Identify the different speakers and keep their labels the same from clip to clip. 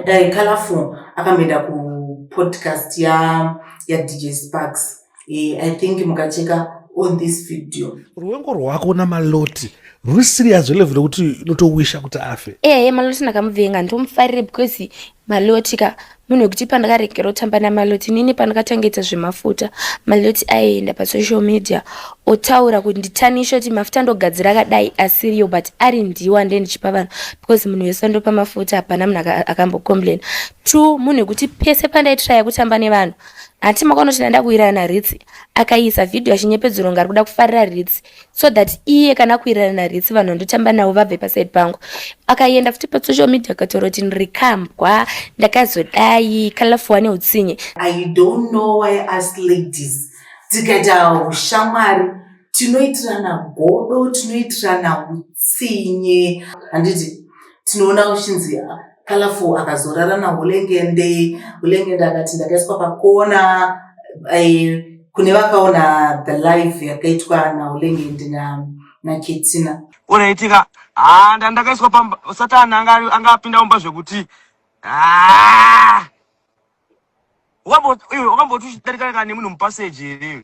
Speaker 1: dai colorful akamboenda kupodcast ya yadj sparks e, i think mukacheka on this video ruvengo rwako
Speaker 2: namaloti ruri serious level rekuti unotowisha kuti afe ehe maloti ndakamuvenga
Speaker 3: ndomufarire because Maloti ka munhu wekuti pandakaregera kutamba namaloti nini pandakatangaita zvemafuta maloti aienda pasocial media otaura kuti nditanishe kuti mafuta ndogadzira akadai asiriyo but ari ndiwo ande ndichipa vanhu because munhu wese andopa mafuta hapana munhu akambocomplaina two munhu wekuti pese pandaitiraya kutamba nevanhu hati makaona kuti ndanda kuirana ritsi akaisa vhidhiyo achinyepedzero ngari kuda kufarira ritsi so that iye kana kuirana naritsi vanhu vandotamba navo vabve pasaidi pangu akaenda futi pasocial media akatoroti ndiri kambwa ndakazodai kalafu wane utsinye i don't know
Speaker 1: why us ladies tikaita ushamwari tinoitirana godo tinoitirana utsinye handiti tinoona uchinzi Colorful akazorara naHulengende. Hulengende akati ndakaiswa pakona. Eh, kune vakaona the live yakaitwa naHulengende na naKetsina. Unaitika
Speaker 4: ah ndandakaiswa pamba Satan anga anga apinda umba zvekuti ah Wambo iwe wakambotushidari kana nemunhu mupassage here?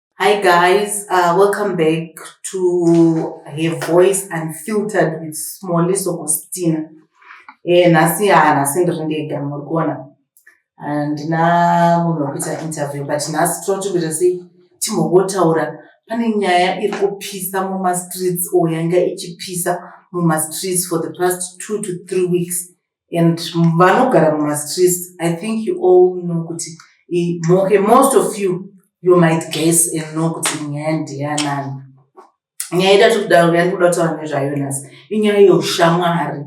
Speaker 1: Hi guys, uh, welcome back to her voice unfiltered with Smally Sokostina. Eh, nhasi ha nhasi ndiri ndega muri kuona handina uh, munhu wekuita interview but nhasi tinoti kuita sei timbogotaura pane nyaya iri kupisa mumastreets or yanga ichipisa mumastreets for the past two to three weeks and vanogara mumastreets i think you all know kuti okay, most of you you might guess and know kuti nyaya ndiyanani nyaya ida tikudaro yandikuda kutaura nezvayo nhasi inyaya yeushamwari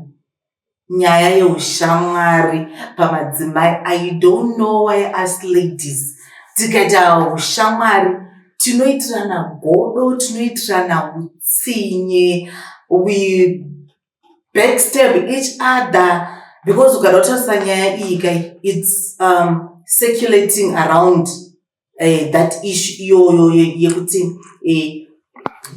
Speaker 1: nyaya yeushamwari pamadzimai i don't know why us ladies tikaita ushamwari tinoitirana godo tinoitirana utsinye we backstab each other because ukada kutarisa nyaya iyi kai its um, circulating around uh, that issue iyoyo yekuti eh,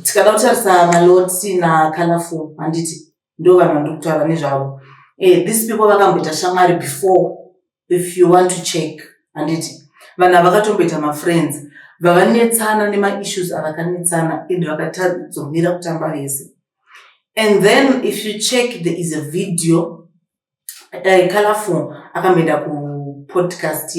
Speaker 1: tikada kutarisa maloti nacolorful handiti ndo vanhu vandiri kutaura nezvavo eh, these people vakamboita shamwari before if you want to check handiti vanhu havakatomboita mafriends vavanetsana nemaissues avakanetsana and vakatadzomira kutamba vese and then if you check there is a video uh, eh, colorful akamboenda kupodcast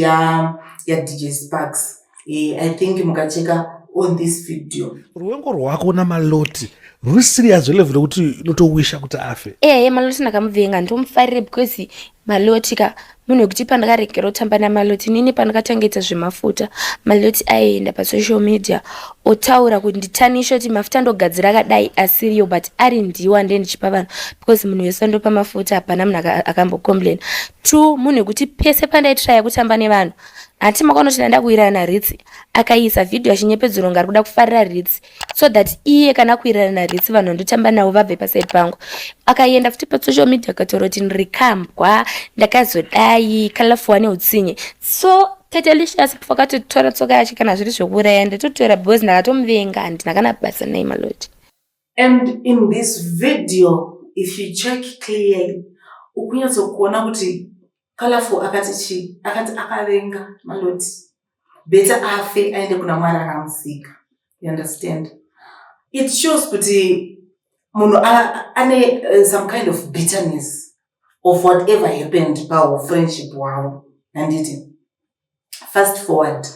Speaker 1: yadj sparks e, i think mukacheka on this video ruvengo rwako
Speaker 2: namaloti ruri serious level rekuti unotowisha kuti afe ehe eh, maloti ndakamuvenga
Speaker 3: ndomufarire because maloti ka munhu wekuti pandakaregera kutamba namaloti nini pandakatangaita zvemafuta maloti aienda pasocial media otaura kuti nditanishe kuti mafuta ndogadzira akadai asiriyo but ari ndiwo ande ndichipa vanhu because munhu wese andopa mafuta hapana munhu akambocomplaina two munhu wekuti pese pandaitiraya kutamba nevanhu Hanti makaona kuti ndaenda kuwirana naRitsi akaisa video achinyepedzera kunge ari kuda kufarira Ritsi so that iye kana kuwirana naRitsi vanhu vandotamba navo vabve paside pangu. Akaenda futi pasocial media akataura kuti ndiri kambwa ndakazodai kalafu wane utsinye so Tatelicious pakatotora tsoka yacho kana zviri zvekuuraya ndatotora because ndakatomuvenga handina kana basa naye maloti. And in this
Speaker 1: video if you check clearly ukunyatsokuona kuti Colorful akati chii? Akati akavenga maloti. Beta afe aende kuna mwari akamusika. You understand? It shows kuti munhu ane uh, some kind of bitterness of whatever happened pahu friendship hwavo. Handiti? fast forward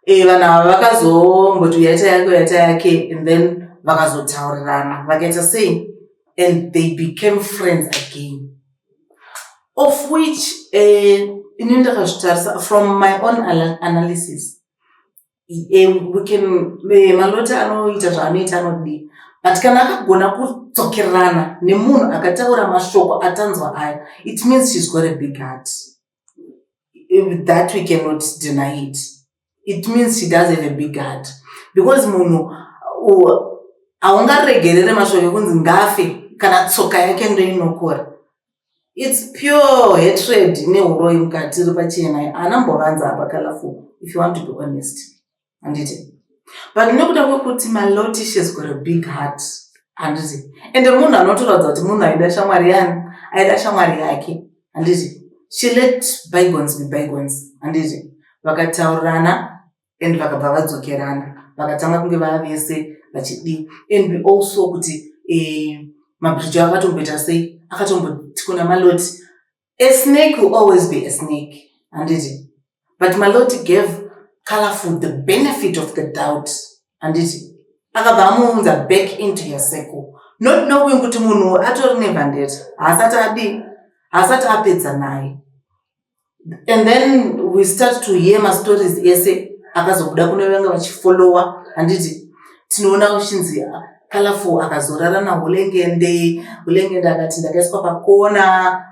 Speaker 1: eh, vanhu ava vakazomboti uyaita yake uyaita yake and then vakazotaurirana vakaita sei and they became friends again of which eh, ini ndakazvitarisa from my own analysis eh, we can eh, malota anoita zvaanoita anodii but kana akagona kudzokerana nemunhu akataura mashoko atanzwa aya it means she's got a big heart that we cannot deny it it means she does have a big heart because munhu haungaregerere mashoko ekunzi ngafe kana tsoka yake ndoinokora its pure hatred neuroyi mukati iri pachena anambovanza apa kalafu if you want to be honest handiti but nekuda kwekuti malotishes got a big heart handiti ende munhu anotoratidza kuti munhu aida shamwari yani aida shamwari yake handiti she let bygons be bygons handiti vakataurirana and vakabva vadzokerana vakatanga kunge vava vese vachidii and we also kuti eh, mabridge akatomboita sei akatomboti kuna maloti A snake will always be a snake, handiti? But Maloti gave Colorful the benefit of the doubt, handiti? Akabva amuunza back into your circle. Not knowing kuti munhu atori nevhandeta, haasati adi, haasati apedza naye. And then we start to hear mastories ese akazobuda kune vanga vachifollowa, handiti? Tinoona uchinzi Colorful akazorara naHulengende. Hulengende akati ndakaiswa pakona.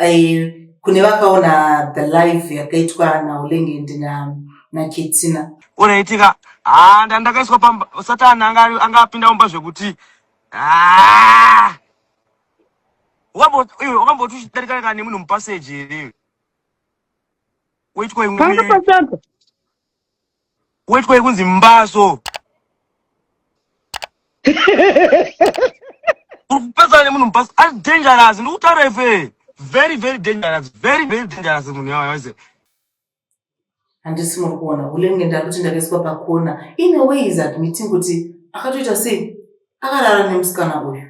Speaker 1: Eh, kune vakaona the live yakaitwa naHulengende na naKetsina. Unaitika
Speaker 4: ah ndandakaiswa pamba Satan anga anga apinda mumba zvekuti ah wakamboti uchidarika kana nemunhu mupaseji here weitwa imwe panga pasaka Wetwa yekunzi mbaso. Urikupesana nemunhu mbaso ari dangerous ndikutaura ife. Very very dangerous. Very very dangerous munhu yawa yawa.
Speaker 1: Handisi muri kuona hulenge ndari kuti ndakaiswa pakona. In a way is admitting kuti akatoita sei? Akarara nemusikana uyu.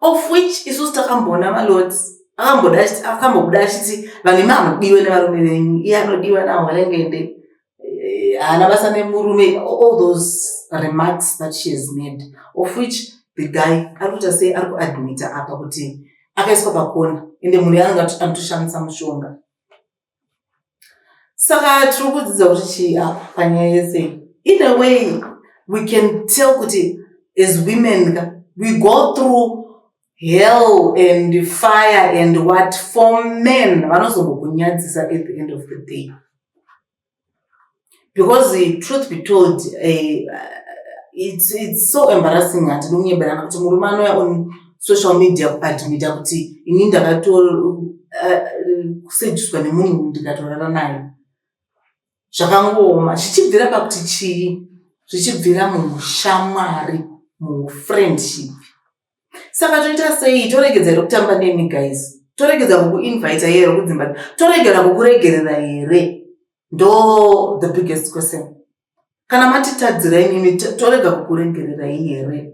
Speaker 1: of which isusu takamboona malords akambobuda achiti vanhu imi hamudiwe nevarume venyu iye anodiwa nawo alengende eh, haana basa nemurume all those remarks that she has made of which the guy ari kuita sei ari kuadmita apa kuti akaiswa pakona ende mhuri yaanenge anotoshandisa mushonga saka tiri kudzidza kuti chii apa panyaya yese iyi either way we can tell kuti as women ka we go through hell and fire and what for men vanozongokunyadzisa at the end of the day because eh, truth be told eh, it's, it's so embarrassing hatidi kunyeberana kuti murume anouya on social media kuadmita kuti ini ndakatokusejuswa eh, nemunhu ndikatorara naye zvakangooma zvichibvira pakuti chii zvichibvira muushamwari muufriendship saka toita sei toregedza here kutamba nemi guys toregedza kukuinvita here kudzimba toregera kukuregerera here ndo the biggest question kana matitadzira imimi torega kukuregererai here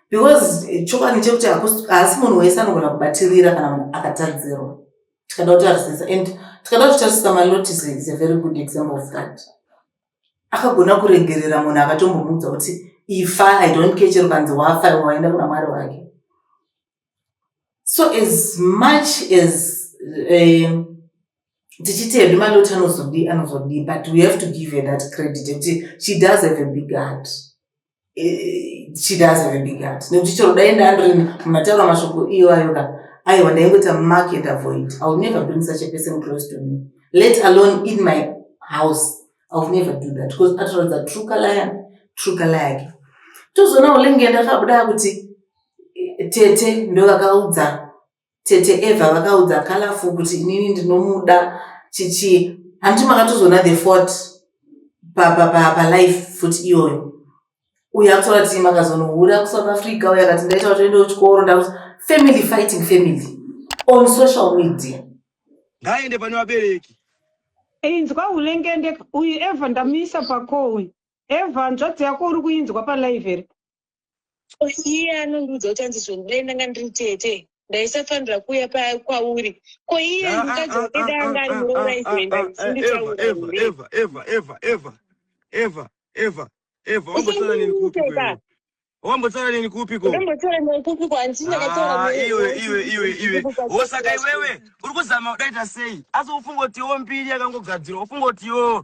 Speaker 1: because chokwadi chekuti haasi munhu wese anogona kubatirira kana munhu akatadzirwa tikada kutarisisa and tikada kutarisisa malotis is a very good example of that akagona kurengerera munhu akatombomuudza kuti ifa i don't care chero kanzi wafa iwe waenda kuna mwari wake so as much as eh, tichiti hedu maloti anozodii anozodii but we have to give her that credit yekuti she does have a big heart eh, she does have a big heart nekuti chero dai ndandiri mumataura mashoko iwayoka aiwa ndaingoita mark and avoid i will never bring such a person close to me let alone in my house i will never do that because atoratidza true kalaya true kalaya yake tozoona ulenge ndakabuda kuti eh, tete ndovakaudza Tete Eva vakaudza Colorful kuti inini ndinomuda chichi hanti makatozoona the fort palife futi iyoyo uyo akutora tii makazonohura kusouth africa uyo akati ndaita kutoenda kuchikoro ndakuti family fighting family on social media ngaaende
Speaker 4: pane vabereki inzwa
Speaker 5: ulengende uyu eva ndamuisa pako uyu eva nzvadzi yako uri kuinzwa palive here
Speaker 6: iye anondiudza kuti hanzi zvinhu dai ndanga ndiri tete ndaisafanira kuuya paya kwauri ko iye ah, ah, mukadzi
Speaker 4: ah, wake dai anga ari muroora izoenda wambotaura neni kupiko osaka iwewe uri kuzama kudaita sei asi ufunga kuti yo mbiri yakangogadzirwa ufunga kuti yo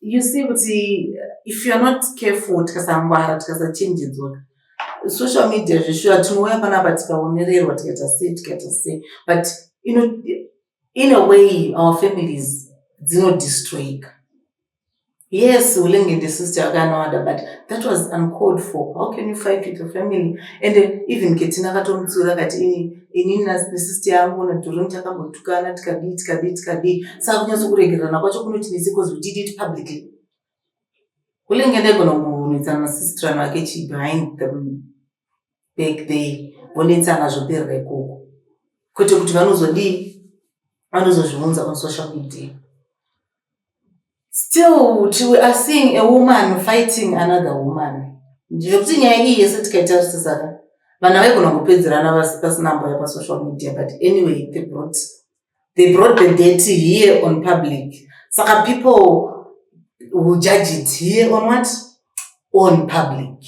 Speaker 4: you see kuti
Speaker 1: if you're not careful tikasangwara tikasachenjedzwa social media zveshuwa tinouya panapa tikaonererwa tikaita se tikaita se but you know, in a way our families dzinodestroyika yes ulenge the sister akanowada but that was uncalled for how can you fight with your family and even ketina akatomutsiura kati ini inini nesisti yangu nadhoroni takambotukana tikadii tikadii tikadii saka kunyatso kuregererana kwacho kunoti nese bcause we did it publicly kulenge ndaigona kunetsana nasistirano ake chi behind the back there vonetsana zvoperera ikoko kwete kuti vanozodii vanozozviunza on social media Still till we are seeing a woman fighting another woman. Ndikuti nyaya iyi yese tikaitarisisa ka vana vaigona kupedzerana vasi pasina mboya pasocial media but anyway they brought, they brought the dirty here on public saka people will judge it here on what on public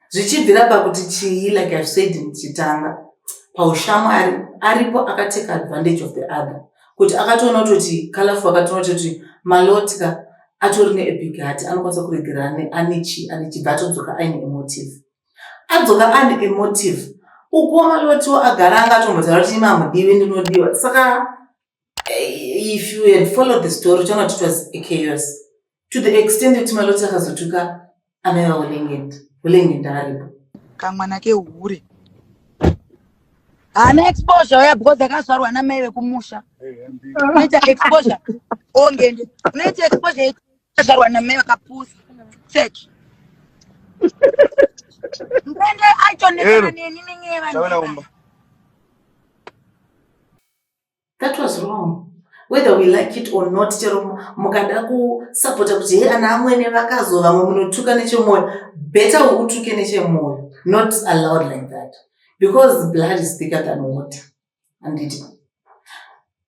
Speaker 1: zvichibvira pakuti chii like ive said ndichitanga paushamwari aripo akatake advantage of the other kuti akatoona kutoti kalafu akatoona kutoti malotka atori neebig hat anokwanisa kuregera ane chii ane chibva atodzoka aine emotive adzoka ane emotive ukuwo malotiwo agara anga atombotaura kuti imi amudivi ndinodiwa saka Eh, if you had followed the story uchaona kuti it was a chaos to the extent yekuti maloti akazotuka amai vaulengenda ulengenda aripo kamwana
Speaker 7: kehure haana exposure uya because akazvarwa namai vekumusha unoita exposure ongende unoita exposure yekuti akazvarwa namai vakapusa check mbende aitonetsana Ero. neni nenyeva Chaona umba.
Speaker 1: that was wrong whether we like it or not chero mukada kusapota kuti he ana amwene vakazo vamwe munotuka nechemwoyo better ukutuke nechemwoyo not allowed like that because blood is bigger than water anditi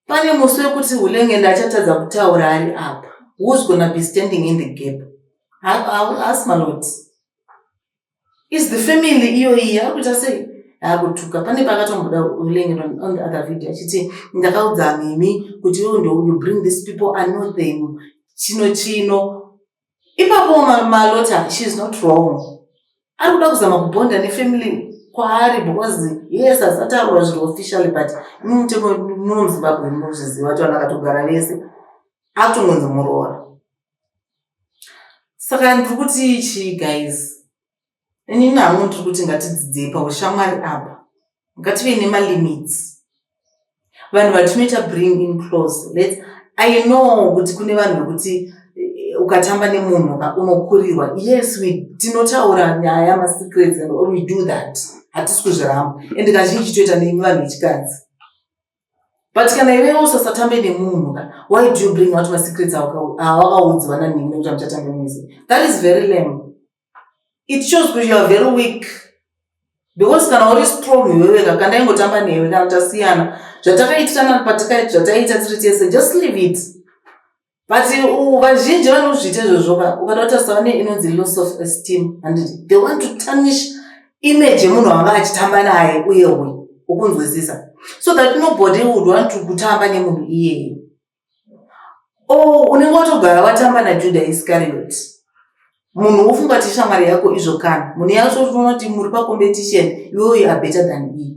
Speaker 1: pane musi wekuti ulenge ndachatadza kutaura ari apa who's gonna be standing in the gap haasi maloti is the family iyoyi yakuita sei akutuka pane paakatomboda ulenge on the other video achiti ndakaudza mimi kuti iwo ndo you bring these people i know them chino chino ipapo malota she is not wrong ari kuda kuzama kubonda nefamily kwaari because yes asataurwa zviri officially but mumutemo muno muzimbabwe munozviziva kuti vanhu akatogara vese akutongonzi muroora saka ndiri kuti chii guys inini hamwe ndiri kuti ngatidzidzei paushamwari apa ngative nemalimits vanhu vatinoita bring in close let i know kuti kune vanhu vekuti eh, ukatamba nemunhu unokurirwa yes tinotaura nyaya masecrets and all we do that hatisi kuzviramba and kazhinji toita neimwe vanhu vechikadzi but kana iwewo usasatambe nemunhu ka why do you bring out masecrets awakaudzwa nanhingi nekuti amuchatambe mese that is very lame it shows kuti youare very weak because kana uri strong iwewe ka kana ingotamba newe kana tasiyana zvatakaitirana patikaita zvataiita tiri tese just leave it but uh, vazhinji vanozviita izvozvo ka ukatotarisa vane inonzi loss of esteem and they want to tarnish image yemunhu wanga achitamba naye uye uyu ukunzwisisa so that nobody would want to kutamba nemunhu iyeye o oh, unenge watogara watamba najuda iscariot munhu wofunga kuti shamwari yako izvo kana munhu yacho unoti muri pacompetition iwe uyu abetter than me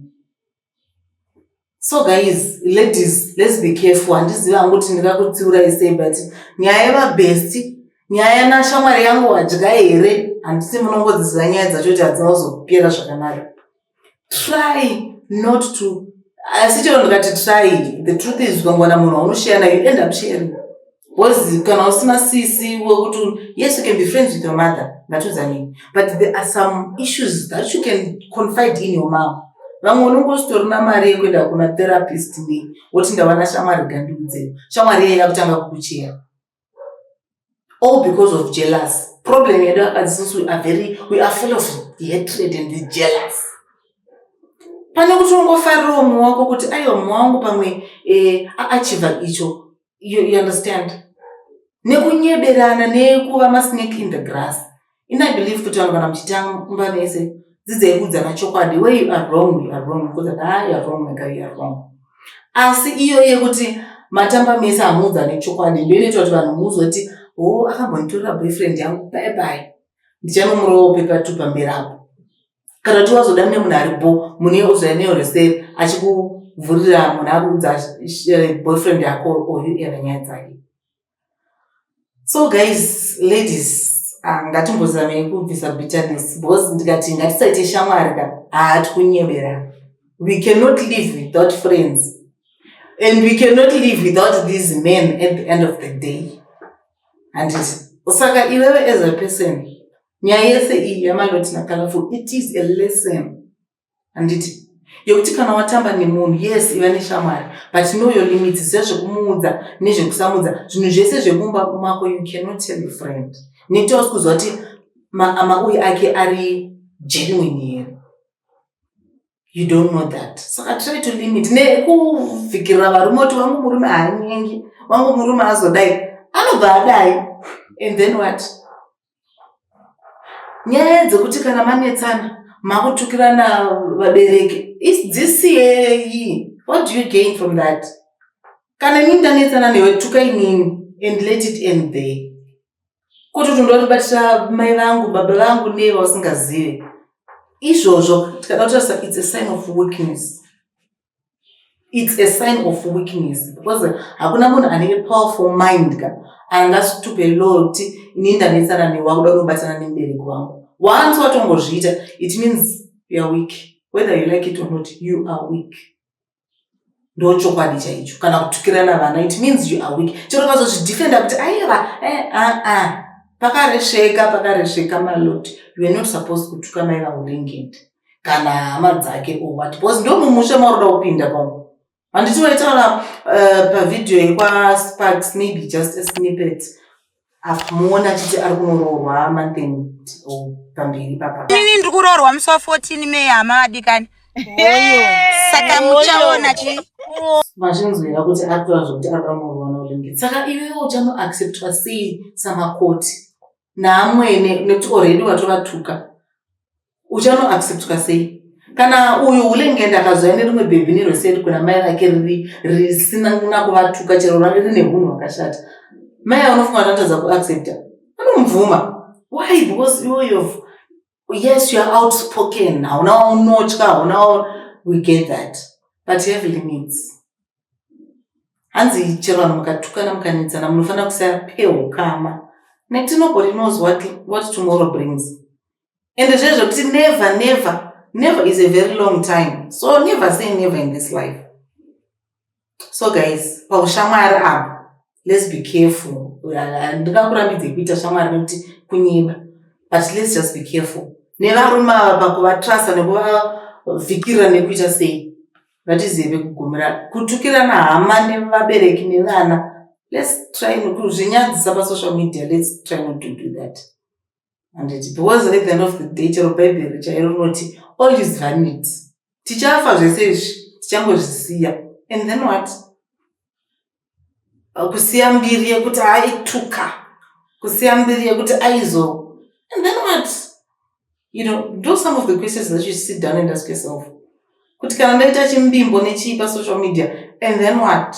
Speaker 1: so guys ladies let's be careful handizivi hangu kuti ndingakutsiurai sei but nyaya yevabhesti nyaya yanashamwari yangu wadya here handisi munongodziziva nyaya dzacho kuti hadzina kuzopera zvakanaka try not to asi chero ndikati try the truth is ukangowana munhu waunosheya nayo end up sharing Because kana usina sisi wekuti yes you can be friends with your mother ngatiudzanei but there are some issues that you can confide in your mom vamwe unongositorina mari yekuenda kuna therapist nei woti ndavana shamwari gandiudzei shamwari yeye yakutanga kukucheya all because of jealous problem yedu akadzisusu we are very we are full of hatred and jealous pane kuti ungofarira umwe wako kuti aiwa mumwe wangu pamwe eh, achiva icho you, you understand nekunyeberana nekuva masnake in the grass ini i believe kuti vanhu kana muchitamba mese dzidzai kuudzana chokwadi where you are wrong you are wrong because ah you are wrong mega you are wrong asi iyo yekuti matamba mese hamuudzane chokwadi ndo inoita kuti vanhu muzoti o oh, akambonitorera boyfriend yangu bye bye ndichanomurowo pepatupa mberapo kana kuti wazoda mune munhu ari bo mune ozvaya neyo reseri achikuvhurira munhu akuudza eh, boyfriend yako oyu ena nyaya dzake so guys ladies ah, ngatimbozamei kubvisa bitterness because ndikati ngatisaite shamwari ka haati kunyebera we cannot live without friends and we cannot live without these men at the end of the day handiti saka iwewe as a person nyaya yese iyi yamaloti nacolorful it is a lesson handiti yekuti kana watamba nemunhu yes iva neshamwari but know your limits sezvekumuudza nezvekusamudza zvinhu zvese zvekumba mako you cannot tell your friend nekuti wasi kuziva kuti mauyi ake ari genuine here you don't know that saka try to limit nekuvhikirira varume kuti wangu murume haanyengi wangu murume azodai anobva adai and then what nyaya dzekuti kana manetsana makutukirana vabereki dzisiyei what do you gain from that kana inini ndanetsana newe tuka inini and let it end there kuti kuti ndoribatira mai vangu baba vangu neye vausingazive izvozvo tikada kutarisa its a sign of weakness its a sign of weakness because hakuna munhu ane powerful mind ka angasitupe loti ini ndanetsana newa kuda unobatana nemubereki wangu once watongozviita it means youare weak whether you like it or not you are weak ndo chokwadi chaicho kana kutukirana vana it means you are weak chero vazozvidefenda kuti aiva eh, ah, ah. pakaresveka pakaresveka maloti you are not supposed kutuka mai vaulengende kana hama dzake or what because ndo mumusha mauroda kupinda pamo handiti waitaura uh, pavhidhiyo yekwasparks maybe just a snippet amuona achiti ari kunoroorwa manthen pamberi papainini ndiri kuroorwa musi wa
Speaker 7: 14 may hama adikani saka muchaona chi mazvinzwira
Speaker 1: kuti atora zvokuti ari pamurwana ulenge saka iwewo uchanoacceptwa sei samakoti naamwene nekuti oredi watovatuka uchano acceptwa sei kana uyu ulenge ndakazvaya nerimwe bhebhi nerweseri kuna mai vake riri risina kuna kuvatuka chero rave rine hunhu hwakashata mai anofunga anatadza kuaccepta anomubvuma why because iwoyo yes youare outspoken hauna waunotya hauna we get that but you have limits hanzi chero vanhu mukatukana mukanetsana munofanira kusapehukama netinobody knows what, what tomorrow brings and zvezvo kuti never never never is a very long time so never say never in this life so guys paushamwari apo let's be careful ndingakurambidzei kuita shamwari nekuti kunyeba but let's just be careful nevarume ava pakuvatrasa nekuvavhikirira nekuita sei vatizive kugumira kutukirana hama nevabereki nevana let's try kuzvinyadzisa pasocial media let's try not to do that handiti because at the end of the day chero bhaibheri chairo rinoti all is vanity tichafa zvese izvi tichangozvisiya and then what kusiya mbiri yekuti aituka kusiya mbiri yekuti aizo and then what you know do some of the questions that you sit down and ask yourself kuti kana ndaita chimbimbo nechii pasocial media and then what